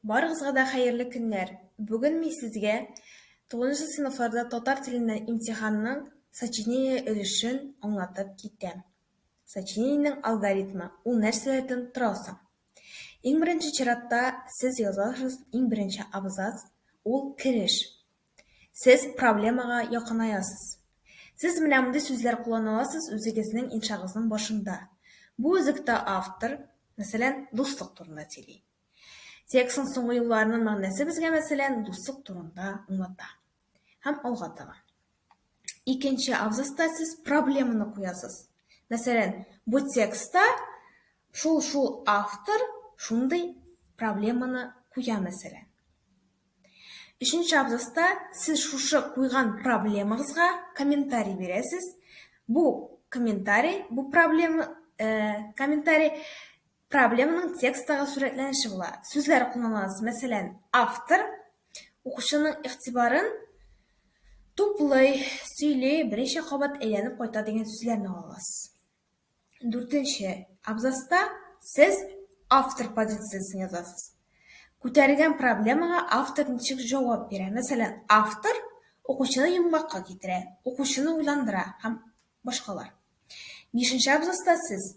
Барыгызга да хәерле көннәр! Бүген мин сезгә тугызынчы сыйныфларда татар теленнән имтиханның сочинение өлешен аңлатып китәм. Сочинениенең алгоритмы, ул нәрсәләрдән тора соң? Иң беренче чиратта сез язасыз иң беренче абзац, ул кереш. Сез проблемага якынаясыз. Сез менә мондый сүзләр куллана аласыз үзегезнең иншагызның башында. Бу өзектә автор, мәсәлән, дуслык турында сөйли. Текстның соңгы юлларының мәгънәсе безгә, мәсәлән, дуслык турында аңлата. Һәм алга таба. Икенче абзаста сез проблеманы куясыз. Мәсәлән, бу текстта шул-шул автор шундый проблеманы куя, мәсәлән. Өченче абзаста сез шушы куйган проблемагызга комментарий бирәсез. Бу комментарий, бу проблема, э, комментарий Проблеманың тексттагы сурәтләнеше була. Сүзләр кулланыласы, мәсәлән, автор укучының игътибарын туплый, сөйли, берничә кабат әйләнеп кайта дигән сүзләрне аласыз. Дүртенче абзацта сез автор позициясен язасыз. Күтәрелгән проблемага автор ничек җавап бирә? Мәсәлән, автор укучыны йомгакка китерә, укучыны уйландыра һәм Башкалар. Бишенче абзацта сез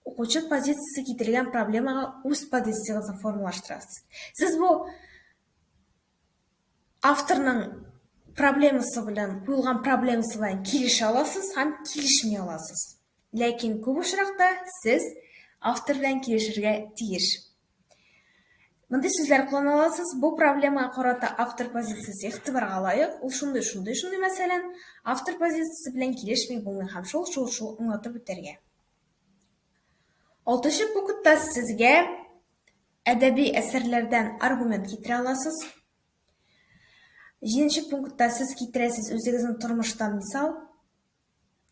укучы позициясе китерелгән проблемага үз позициягезне формалаштырасыз. Сез бу авторның проблемасы белән, куелган проблемасы белән килешә аласыз һәм килешми аласыз. Ләкин күп очракта сез автор белән килешергә тиеш. Мондый сүзләр куллана аласыз. Бу проблемага карата автор позициясе игътибарга лаек. Ул шундый, шундый, шундый, мәсәлән, автор позициясе белән килешми булмый һәм шул, шул, шул аңлатып үтәргә. Алтынчы пунктта сезгә әдәби әсәрләрдән аргумент китерә аласыз. Җиденче пунктта сез китерәсез үзегезнең тормыштан мисал.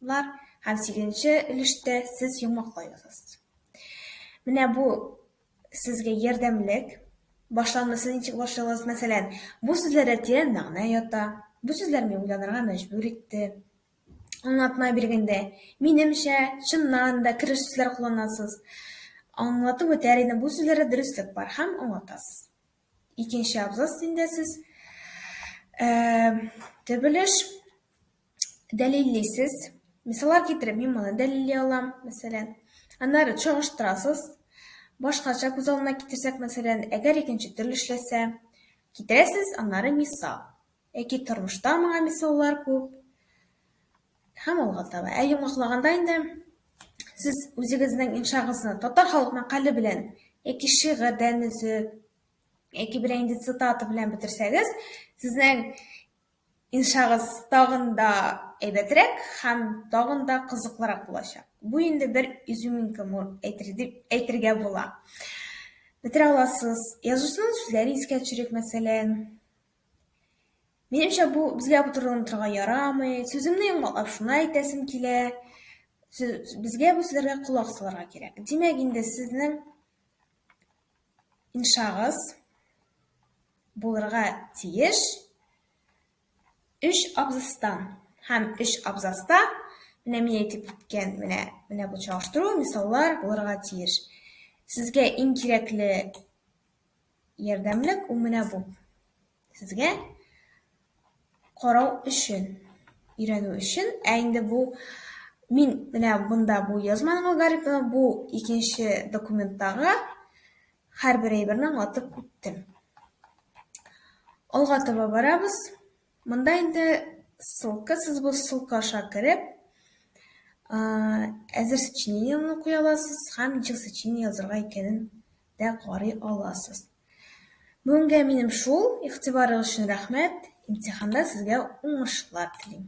Лар һәм сигезенче өлештә сез йомгаклайсыз. Менә бу сезгә ярдәмлек. Башланмасы ничек башлагыз? Мәсәлән, бу сүзләрдә тирән мәгънә ята. Бу сүзләр мине уйланырга мәҗбүр итте. Аңлатма биргәндә, минемчә, чыннан да кереш сүзләр кулланасыз. Аңлатып үтәр идем, бу сүзләрдә дөреслек бар һәм аңлатасыз. Икенче абзац инде сез. Төп өлеш. дәлиллисез. Мисаллар китереп, мин моны дәлилли алам, мәсәлән. Аннары чагыштырасыз. Башкача күз алдына китерсәк, мәсәлән, әгәр икенче төрле эшләсә, китерәсез, аннары мисал. Яки тормышта моңа мисаллар күп. Һәм алга таба. Ә йомгаклаганда инде сез үзегезнең иншагызны татар халык мәкале белән яки шигырьдән өзеп, яки берәй инде цитата белән бетерсәгез, сезнең Иншагыз, тагын да әйбәтрәк һәм тагын да кызыклырак булачак. Бу инде бер изюминка мур әйтер дип әйтергә була. Бетерә аласыз. Язучының сүзләре искә төшерик, мәсәлән. Минемчә, бу безгә путырылынып торырга ярамый. Сүземне йомгаклап шуны әйтәсем килә. Сүз, безгә бу сүзләргә колак салырга кирәк. Димәк инде, сезнең Иншагыз булырга тиеш өч абзацтан һәм өч абзацта менә мин әйтеп киткән менә менә бу чагыштыру мисаллар булырга тиеш. Сезгә иң кирәкле ярдәмлек ул менә бу. Сезгә карау өчен, өйрәнү өчен, ә инде бу мин менә монда бу язманың алгоритмы, бу икенче документтагы һәрбер әйберне аңлатып үттем. Алга таба барабыз. Монда инде ссылка, сез бу ссылка аша кереп, әзер сочинениены куя аласыз һәм ничек сочинение язырга икәнен дә карый аласыз. Бүгенгә минем шул, игътибарыгыз өчен рәхмәт, имтиханда сезгә уңышлар телим.